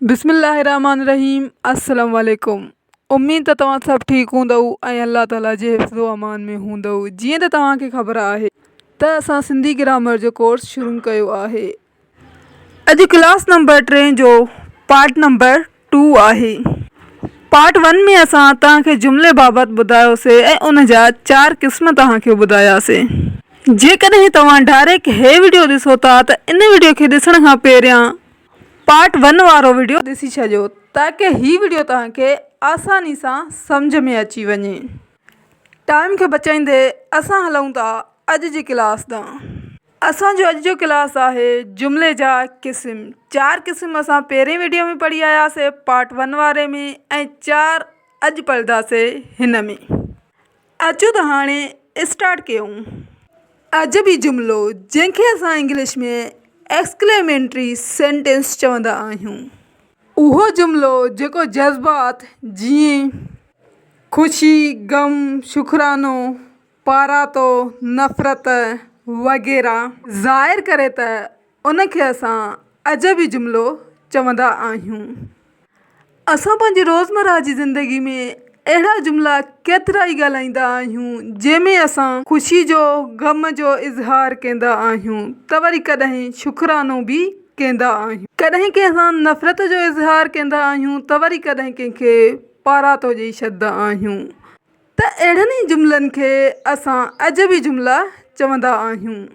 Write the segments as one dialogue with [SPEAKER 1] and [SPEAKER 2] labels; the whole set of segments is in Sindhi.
[SPEAKER 1] بسم الله الرحمٰن الرحيم السلام عليڪم اميد ته توهان سڀ ٺيڪ هوندؤ ۽ الله تعالي جي حفظ و امان ۾ هوندؤ جيئن ته توهان کي خبر آهي ته اسان سنڌي گرامر جو ڪورس شروع ڪيو آهي اڄ ڪلاس نمبر ٽين جو پارٽ نمبر ٽو آهي پارٽ ون ۾ اسان توهان کي جملي بابت ٻڌايوسي ۽ ان جا چار قسم توهان کي ٻڌاياسي جيڪڏهن توهان ڊائريڪٽ هي وڊيو ڏسو ٿا ته ان وڊيو کي ڏسڻ کان پهريان پارٽ ون وارو وڊيو ڏسي ڇڏيو تاڪه هي وڊيو توهان کي آساني سان سمجهه ۾ اچي وڃي. ٽائيم کي بچائيندي اسان هلون ٿا اڄ جي ڪلاس ڏانهن. اسان جو اڄ جو ڪلاس آهي جملي جا قسم. چار قسم اسان پهرين وڊيو ۾ پڙهي آياسي پارٽ ون واري ۾ ۽ چار اڄ پڙهداسي هن ۾. اچو ته هاڻي اسٽارٽ ڪيون اڄ به جملو جنهن کي اسان انگلش ۾ Exclamatory Sentence چوندا آهيون. اهو جملو جيڪو جذبات جيئن خوشي، غم، شڪرانو، پاراتو، نفرت وغيره ظاهر ڪري ته ان کي اسان عجبي جملو چوندا آهيون. اسان پنهنجي روزمره جي زندگي ۾ اهڙا جملا ڪيترا ئي ڳالهائيندا آهيون، جنهن ۾ اسان خوشي جو، غم جو اظهار ڪيندا آهيون ته وري ڪڏهن شڪرانو به ڪيندا آهيون. ڪڏهن ڪنهن سان نفرت جو اظهار ڪيندا آهيون ته وري ڪڏهن ڪنهن کي پاراتو ڏئي ڇڏدا آهيون ته اهڙن ئي جملن کي اسان عجبي جملا چوندا آهيون.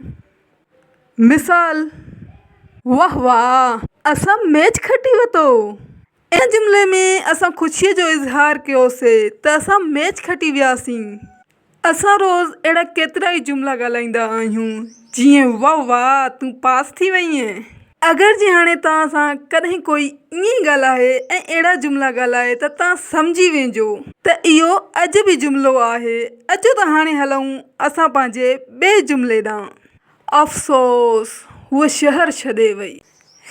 [SPEAKER 1] مثال، واه واه اسان ميچ کٽي ورتو. ان جملي ۾ اسان خوشيء جو اظهار ڪيوسي ته اسان ميچ کٽي وياسين. اسان روز اهڙا ڪيترائي جملا ڳالهائيندا آهيون جيئن واه واه تون پاس ٿي وئينء. اگر جي هاڻي توهان سان ڪڏهن ڪوئي ائين ئي ڳالهائي ۽ اهڙا جملا ڳالهائي ته توهان سمجهي ويهجو ته اهو اڄ به جملو آهي. اچو ته هاڻي هلون اسان پنهنجي ٻئي جملي ڏانهن. افسوس! هوء شهر ڇڏي وئي.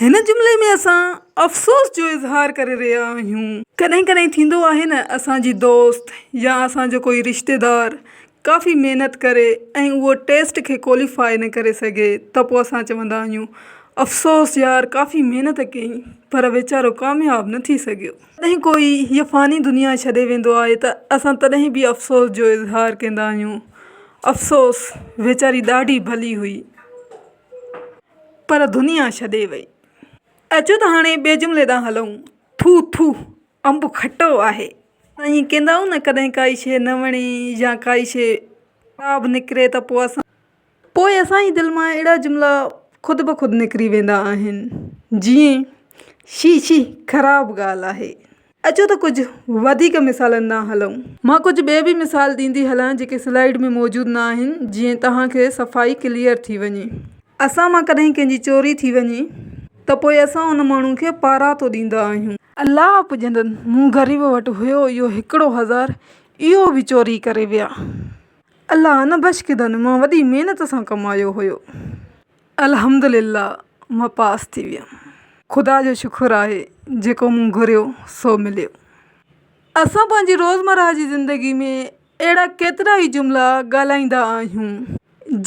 [SPEAKER 1] هن جملي ۾ اسان افسوس جو اظهار ڪري رهيا آهيون. ڪڏهن ڪڏهن ٿيندو آهي نه اسان جي دوست يا اسان جو ڪوئي رشتيدار ڪافي محنت ڪري ۽ اهو ٽيسٽ کي ڪوليفائي نه ڪري سگهي ته پوء اسان چوندا آهيون افسوس يار ڪافي محنت ڪيئين پر ويچارو ڪامياب نه ٿي سگهيو. جڏهن ڪوئي هيء فاني دنيا ڇڏي ويندو آهي ته اسان تڏهن به افسوس جو اظهار ڪندا آهيون افسوس ويچاري ڏاڍي ڀلي هئي پر دنيا ڇڏي وئي. اچو ته هاڻي ٻئي جملي ڏانهن هلون ٿو ٿو انب کٽو آهي ائين ڪيندا آهيون نه ڪڏهن ڪائي شيء نه وڻي يا ڪائي شيء خراب نڪري ته پوء اسان پوء اسان جي دل مان اهڙا جملا خود بخود نڪري ويندا آهن جيئن شي شي خراب ڳالهه آهي. اچو ته ڪجهه وڌيڪ مثالن ڏانهن هلون. مان ڪجهه ٻيا به مثال ڏيندي هلان جيڪي سلائيڊ ۾ موجود نه آهن جيئن توهان کي صفائي ڪليئر ٿي وڃي. اسان مان ڪڏهن ڪنهن جي چوري ٿي وڃي ته پوء اسان ان ماڻهو کي پاراتو ڏيندا آهيون. الله پڄندن مون غريب وٽ هيو اهو هڪڙو هزار اهو به چوري ڪري ويا. الله نه بشڪدن مان وڏي محنت سان ڪمايو هيو. الحمدلله مان پاس ٿي ويم. خدا جو شڪر آهي جيڪو مون گهريو سو مليو. اسان پنهنجي روزمره جي زندگي ۾ اهڙا ڪيترا ئي جملا ڳالهائيندا آهيون،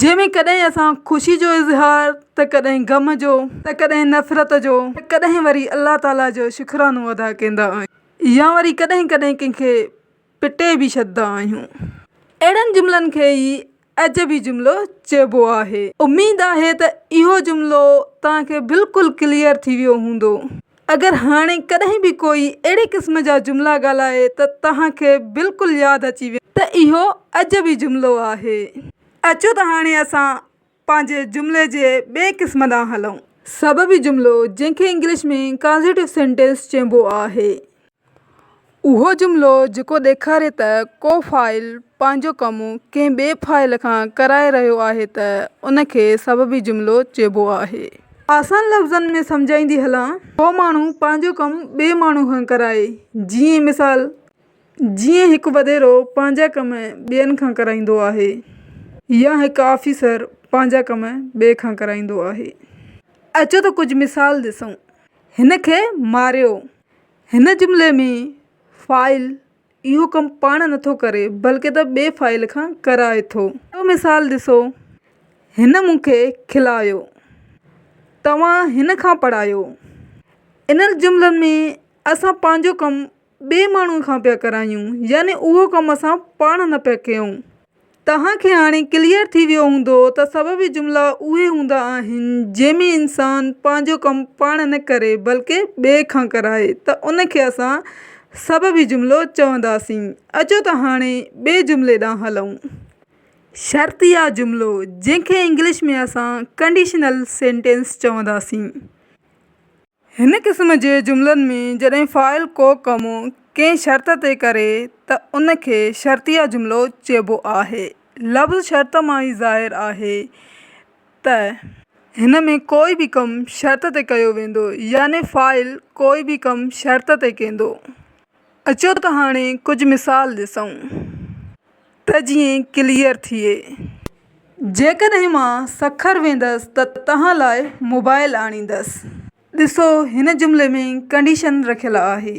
[SPEAKER 1] جنهن ۾ ڪڏهن اسان خوشي جو اظهار ته ڪڏهن غم جو ته ڪڏهن نفرت جو ته ڪڏهن وري الله تعاليٰ جو شڪرانو ادا ڪيندا آهيون يا وري ڪڏهن ڪڏهن ڪنهن کي پٽي به ڇڏدا آهيون. اهڙن جملن کي ئي عجبي جملو چئبو آهي. اميد آهي ته اهو جملو توهان کي بلڪل ڪليئر ٿي ويو هوندو. اگر هاڻي ڪڏهن به ڪوئي اهڙي قسم جا جملا ڳالهائي ته توهان کي بلڪل ياد اچي ويندو ته اهو عجبي جملو آهي. اچو ته هاڻي اسان پنهنجي جملي جي ٻئي قسم ڏانهن هلون. سببي جملو جنهن کي انگلش ۾ Causative Sentence چئبو آهي. اهو جملو جيڪو ڏيکاري ته ڪو فاعل پنهنجو ڪم ڪنهن ٻئي فاعل کان ڪرائي رهيو آهي ته ان کي سببي جملو چئبو آهي. آسان لفظن ۾ سمجهائيندي هلان. ڪو ماڻهو پنهنجو ڪم ٻئي ماڻهو کان ڪرائي. جيئن مثال، جيئن هڪ وڏيرو پنهنجا ڪم ٻين کان ڪرائيندو آهي يا هڪ آفيسر پنهنجا ڪم ٻئي کان ڪرائيندو آهي. اچو ته ڪجهه مثال ڏسون. هن کي ماريو. هن جملي ۾ فاعل اهو ڪم پاڻ نٿو ڪري بلڪه ته ٻئي فاعل کان ڪرائي ٿو. ٻيو مثال ڏسو، هن مون کي کلايو. توهان هن کان پڙهايو. انهن جملن ۾ اسان پنهنجو ڪم ٻئي ماڻهوء کان پيا ڪرايون يعني اهو ڪم اسان پاڻ نه پيا ڪيون. توهان کي هاڻي ڪليئر ٿي ويو هوندو ته سببي جملا اهي هوندا آهن جنهن ۾ انسان پنهنجو ڪم پاڻ نه ڪري بلڪه ٻئي کان ڪرائي ته ان کي اسان سببي جملو چونداسين. اچو ته هاڻي ٻئي جملي ڏانهن هلون. شرطيه جملو جنهن کي انگلش ۾ اسان Conditional Sentence چونداسين. هن قسم جي جملن ۾ جڏهن فاعل ڪو ڪم ڪنهن شرط تي ڪري ته ان کي شرطيه جملو چئبو آهي. لفظ شرط مان ئي ظاهر آهي ته. هن ۾ ڪوئي به ڪم شرط تي ڪيو ويندو يعني فاعل ڪوئي به ڪم شرط تي ڪيندو. اچو ته هاڻي ڪجهه مثال ڏسون ته جيئن ڪليئر ٿئي. جيڪڏهن مان سکر ويندس ته توهان لاء موبائل آڻيندس. ڏسو هن جملي ۾ ڪنڊيشن رکيل آهي.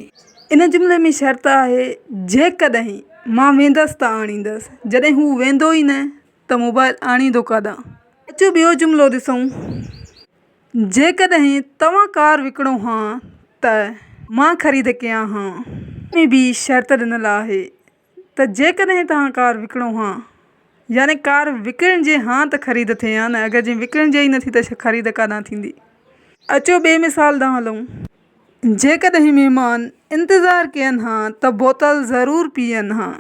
[SPEAKER 1] ان جملي ۾ شرط آهي جيڪڏهن مان ويندس ته آڻيندس. جڏهن هو ويندو ئي نه ته موبائل آڻيندو ڪاڏانهن. اچو ٻيو جملو ڏسون. جيڪڏهن توهان ڪار وڪڻو ها ته مان خريد ڪيان ها. ان ۾ به شرط ڏنل آهي ته جيڪڏهن توهان ڪار وڪڻو ها يعني ڪار وڪڻجي ها ته خريد ٿئي ها نه اگر جي وڪڻجي ئي نٿي ته خريد ڪانه ٿيندي. اچو ٻئي مثال ڏانهن هلون. جيڪڏهن مهمان انتظار ڪين ها ته بوتل ضرور پيئن ها.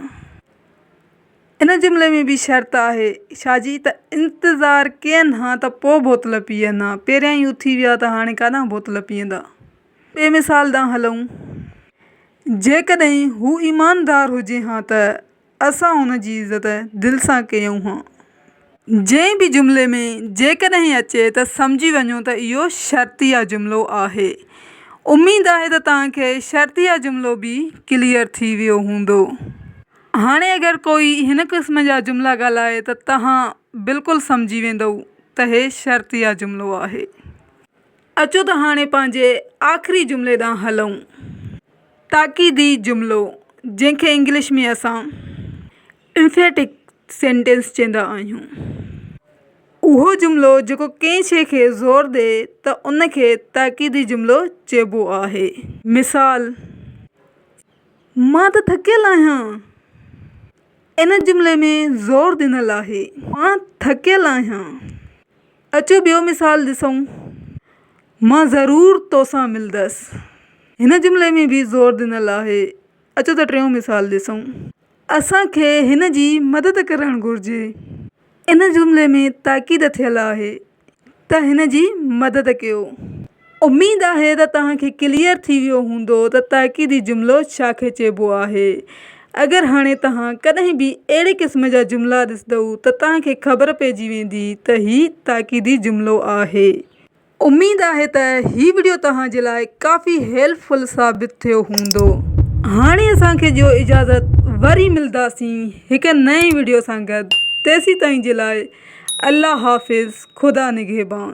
[SPEAKER 1] ان جملي ۾ به شرط آهي شاهه جي ته انتظار ڪين ها ته پوء بوتل پيئن ها، پهريان ئي اٿي ويا ته هاڻي ڪاڏانهن بوتل پيئندا؟ ٻئي مثال ڏانهن هلون. جيڪڏهن هو ايماندار هجي ها ته اسان هن جي عزت دل سان ڪيون ها. جنهن به جملي ۾ جيڪڏهن اچي ته سمجهي وڃو ته اهو شرطيه جملو آهي. اميد آهي ته توهان کي شرطيه جملو به ڪليئر ٿي ويو هوندو. هاڻي اگر ڪوئي هن قسم جا جملا ڳالهائي ته توهان بلڪل سمجهي ويندؤ ته هي شرطيه جملو آهي. اچو ته هاڻي پنهنجي آخري جملي ڏانهن هلئون. تاڪيدي جملو، جنهن کي انگلش ۾ اسان Emphatic Sentence چيندا آهيون، اهو جملو جيڪو ڪنهن شيء کي زور ڏئي ته ان کي تاڪيدي جملو چئبو آهي. مثال، مان ته ٿڪيل آهيان ان جملي ۾ زور ڏنل آهي. مان ٿڪيل آهيان. اچو ٻيو مثال ڏسون. مان ضرور توسان ملندس. هن جملي ۾ به زور ڏنل آهي. اچو ته ٽيون مثال ڏسون. اسان کي هن جي مدد ڪرڻ گهرجي. ان جملي ۾ تاڪيد ٿيل آهي. ته هن جي مدد ڪيو. اميد آهي ته توهان کي ڪليئر ٿي ويو هوندو ته تاڪيدي جملو ڇا کي چئبو آهي. اگر هاڻي توهان ڪڏهن به اهڙي قسم جا جملا ڏسدئو ته توهان کي خبر پئجي ويندي ته هي تاڪيدي جملو آهي. اميد آهي ته هي وڊيو توهان جي لاء ڪافي هيلپ فل ثابت ٿيو هوندو. هاڻي اسان کي ڏيو اجازت وري ملداسين. هڪ نئين وڊيو سان گڏ تيسين تائين جي لاء الله حافظ خدا نگهبان.